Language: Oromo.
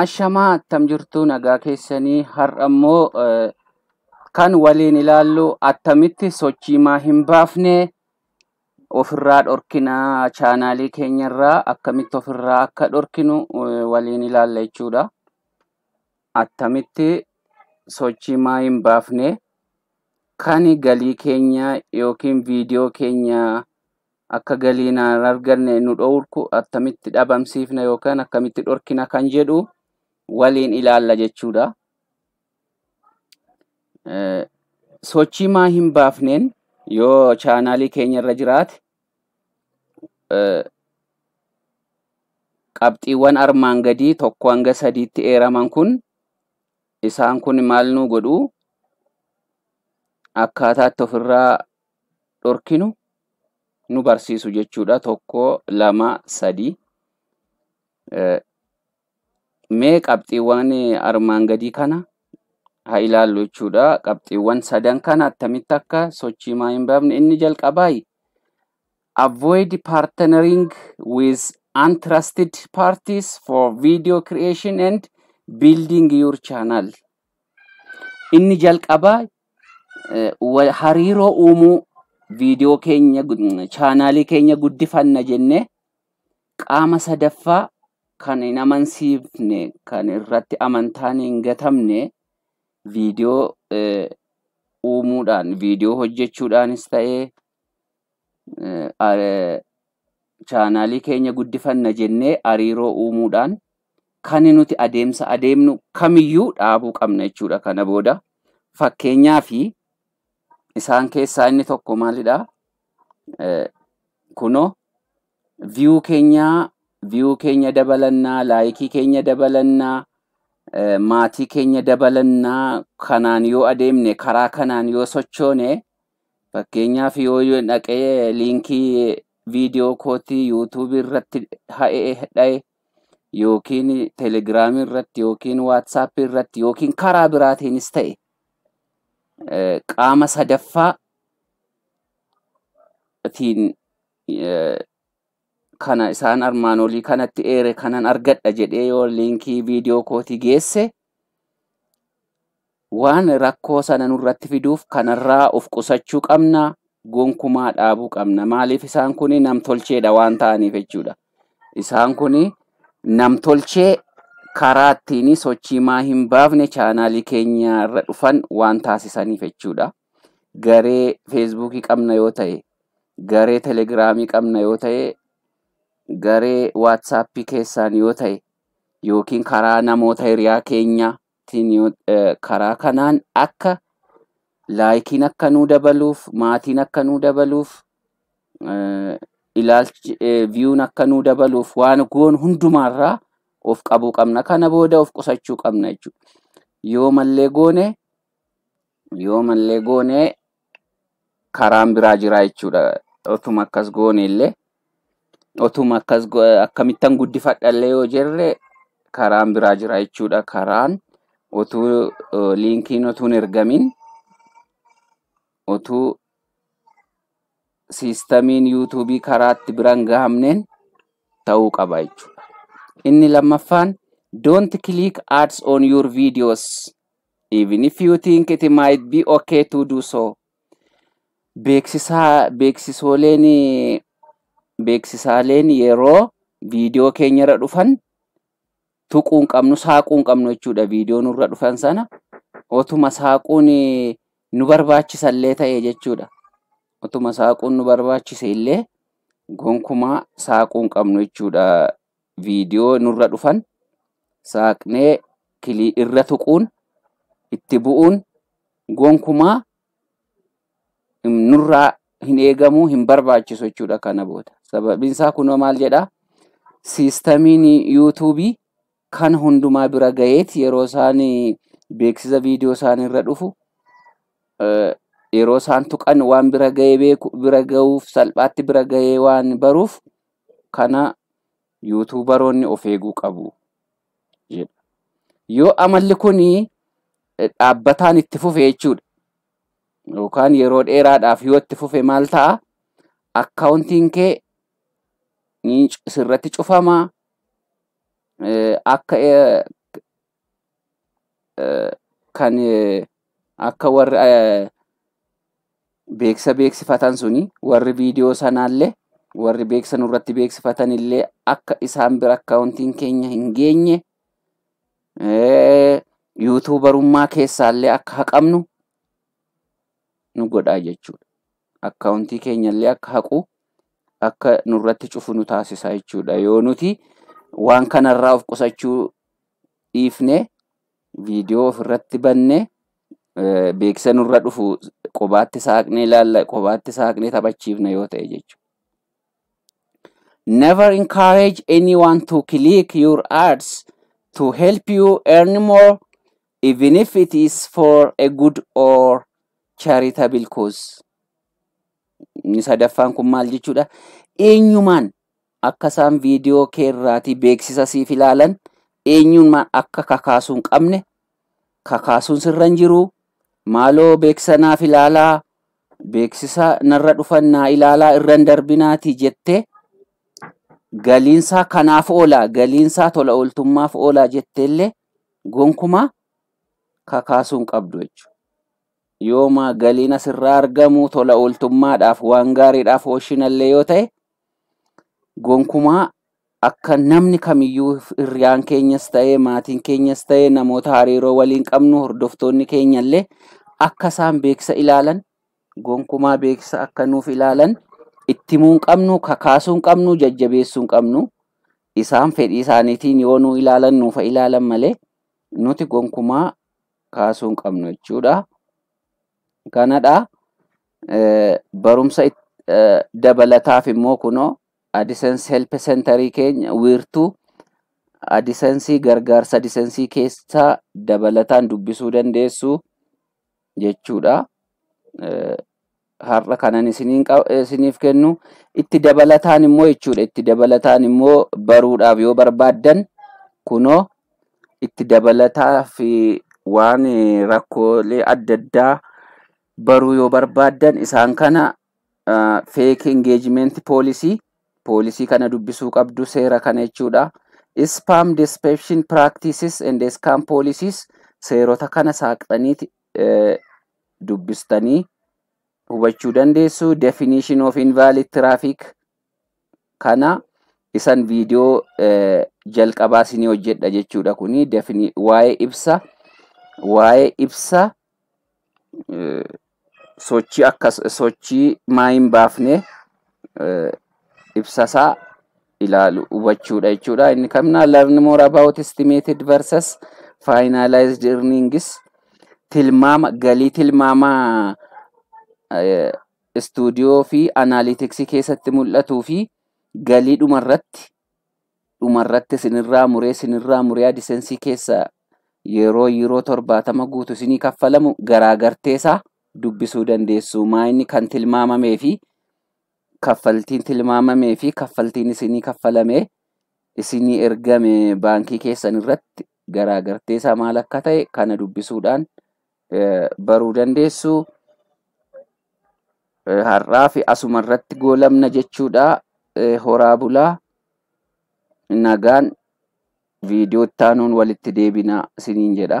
Ashamaa attam jirtuu nagaa keessanii har'a immoo eh, kan waliin ilaallu attamitti sochii maa hin baafne ofirraa dhorkina chaanaalii keenyarraa akkamitti ofirraa akka dhorkinu eh, waliin ilaalla jechuudha. Attamitti sochii maa hin baafne kan galii keenya yookiin viidiyoo keenya akka galiin hin arganne nu dhoorku attamitti dhabamsiifna yookaan akkamitti dhorkina kan jedhu waliin ilaalla jechuudha. Eh, Sochii maa hin baafneen yoo chaanaalii keenya irra jiraate eh, qabxiiwwan armaan gadii tokko hanga sadiitti eeraman kun isaan kun maal nu godhu akkaataatti ofirraa dhorkinu nu barsiisu jechuudha. Tokko, lama, sadi. Mee qabxiiwwan armaan gadii kana haa ilaallu jechuudha. Qabxiiwwan sadan kana attamitti akka sochii maa hin baafne inni jalqabaayi. Avoid partnering with untrusted parties for video creation and building your channel. Inni jalqabaa hariiroo uumuu viidiyoo keenya chaanaalii keenya guddifanna jennee qaama sadaffaa kan hin amansiifne kan irratti amantaan hin gatamne viidiyoo uumuudhaan viidiyoo hojjechuudhaanis ta'ee chaanaalii keenya guddifanna jennee hariiroo uumuudhaan kan nuti adeemsa adeemnu kamiyyuu dhaabuu qabna jechuudha kana booda. Fakkeenyaa fi isaan keessaa inni tokko maalidha? Kunoo viyuu keenya viyuu keenya dabalannaa, laayikii keenya dabalannaa, maatii keenya dabalannaa kanaan yoo adeemne karaa kanaan yoo sochoone Fakkeenyaaf yoo yoon dhaqee liinkii viidiyoo kootii yuutuubii irratti ha'ee dha'e yookiin telegiraamii irratti yookiin waatsaappii irratti yookiin karaa biraatiinis ta'e eh, qaama sadaffaa tiin eh, kana isaan armaan olii kanatti eere kanan argadha jedhee yoo liinkii viidiyoo kootii geesse Waan rakkoo sana nurratti fiduuf kanarraa of qusachuu qabna, gonkumaa dhaabuu qabna. Maaliif isaan kun namtolcheedha waan ta'aniif jechuudha. Isaan kun namtolchee karaa ittiin sochii maa hin baafne chaanaalii keenya irra dhufan waan taasisaniif jechuudha. Garee feesbuukii qabna yoo ta'e, garee telegiraamii qabna yoo ta'e, garee waatsaappii keessaan yoo ta'e yookiin karaa namoota hiriyaa keenya tiin yoo eh, karaa kanaan akka laayikiin akka nuu dabaluuf maatiin akka nuu dabaluuf eh, ilaalchi eh, viyuun akka nuu dabaluuf waan goon hundumaarraa of qabuu qabna kana booda of qusachuu qabna jechuudha yoo mallee goone Yoo mallee goone karaan biraa jiraa jechuudha. Otuma akkas goone illee otuma akkas go- akkamittan guddifadha illee yoo jenne karaan biraa jira jechuudha. Karaan otuu eh, liinkiin otuu hin ergamin otuu siistamiin yuutuubii karaatti biraan gahamneen ta'uu qaba jechuudha. Inni lammaffaan don't click ads on your videos Even if you think it might be okay to do so. Beeksisaa beeksisooleen beeksisaaleen yeroo viidiyoo keenyarra dhufan tuquu hin qabnu saaquu hin qabnu jechuudha viidiyoo nurra dhufan sana otuma saaquun nu barbaachisallee ta'e jechuudha. Otuma saaquun nu barbaachise illee gonkumaa saaquu hin qabnu jechuudha viidiyoo nurra dhufan saaqnee kilii irra tuquun itti bu'uun gonkumaa hin- nurraa hin eegamu hin barbaachisu jechuudha kana booda sababiin isaa kunoo maal jedha siistamiin yuutuubii kan hundumaa bira gaheet yeroo isaan beeksisa viidiyoo isaan irra dhufu eh, yeroo isaan tuqan waan bira gahee beeku bira gahuuf salphaatti bira gahee waan baruuf kana yuutuubaroonni of eeguu qabu jedha. Yoo amalli kun dhaabbataan itti fufe jechuudha. Yookaan yeroo dheeraadhaaf yoo itti fufe maal ta'a? Akkaawuntiin kee ni sirratti cufama. Akka kan akka warri beeksisa beeksifatan suni warri viidiyoo sanaallee warri beeksisa nurratti beeksifatan illee akka isaan bira akkaawuntiin keenya hin geenye yuutuubarummaa keessaallee akka haqamnu nu godhaa jechuudha. akkaawuntii keenyallee akka haqu akka nurratti cufu nu taasisa jechuudha. Yoo nuti waan kanarraa of qusachuu dhiifne viidiyoo ofirratti banne beeksisa nurra dhufu qobaatti saaqnee ilaalla qobaatti saaqnee taphachiifna yoo ta'e jechuudha. Never encourage anyone to click your ads to help you earn more even if it is for a good or charitable cause. Inni sadaffaan kun maal jechuudha? Eenyumaan akka isaan viidiyoo kee irraatii beeksisa siif ilaalan eenyumaan akka kakaasuu hin qabne kakaasuun sirra hin jiru. Maaloo beeksisa naaf ilaalaa, beeksisa narra dhufan naa ilaalaa irra hin darbinaati jettee galiinsaa kanaaf oolaa, galiinsaa tola ooltummaaf oolaa jetteellee gonkumaa kakaasuu hin qabdu jechuudha. Yooma galiin asirraa argamu tola ooltummaadhaaf waan gaariidhaaf ooshinallee yoo ta'e gonkumaa akka namni kamiyyuu hiriyaan keenyas ta'ee maatiin keenyas ta'ee namoota hariiroo waliin qabnu hordoftoonni keenyallee akka isaan beeksisa ilaalan gonkumaa beeksisa akka nuuf ilaalan itti himuu hin qabnu kakaasuu hin qabnu jajjabeessuu hin qabnu Isaan fedhii isaaniitiin yoo nu ilaalan nuuf haa ilaalan malee nuti gonkumaa kaasuu hin qabnu jechuudha. Kanadha. Eh, Barumsa it- eh, dabalataaf immoo kunoo AdSense Help Centerii keenya wiirtuu AdSensii gargaarsa AdSensii keessaa dabalataan dubbisuu dandeessu. jechuudha. Har'a kanan isiniif kennu itti dabalataan immoo jechuudha. Itti dabalataan immoo baruudhaaf yoo barbaaddan kunoo itti dabalataa fi waan rakkoolee adda addaa baruu yoo barbaaddan isaan kana feek engagement policy poolisii kana dubbisuu qabdu seera kana jechuudha. Spam deception practices and scam policies seerota kana saaqxaniiti dubbistanii hubachuu dandeessu. Definition of invalid traffic kana isan viidiyoo jalqabaa isinii hojjedha jechuudha kuni waa'ee ibsa waa'ee ibsa sochii akkas sochii maa hin baafne ibsasaa ilaalu hubachuudha jechuudha. Inni kamnaa learn more about estimated versus finalized earnings tilmaama galii tilmaama istuudiyoo fi anaaliitiksii keessatti mul'atuu fi galii dhumarratti dhumarratti isinirraa muree isinirraa muree adisensii keessa yeroo yeroo torbaatama guutu isinii kaffalamu garaagarteesaa dubbisuu dandeessu maa inni kan tilmaamamee fi kaffaltiin tilmaamamee fi kaffaltiin isinii kaffalamee isinii ergame baankii keessan irratti garaagarteesaa maal akka ta'e kana dubbisuudhaan baruu dandeessu. Har'aa fi asuma irratti goolabna jechuudha. Horaa bulaa nagaan viidiyoo itti aanuun walitti deebina isiniin jedha.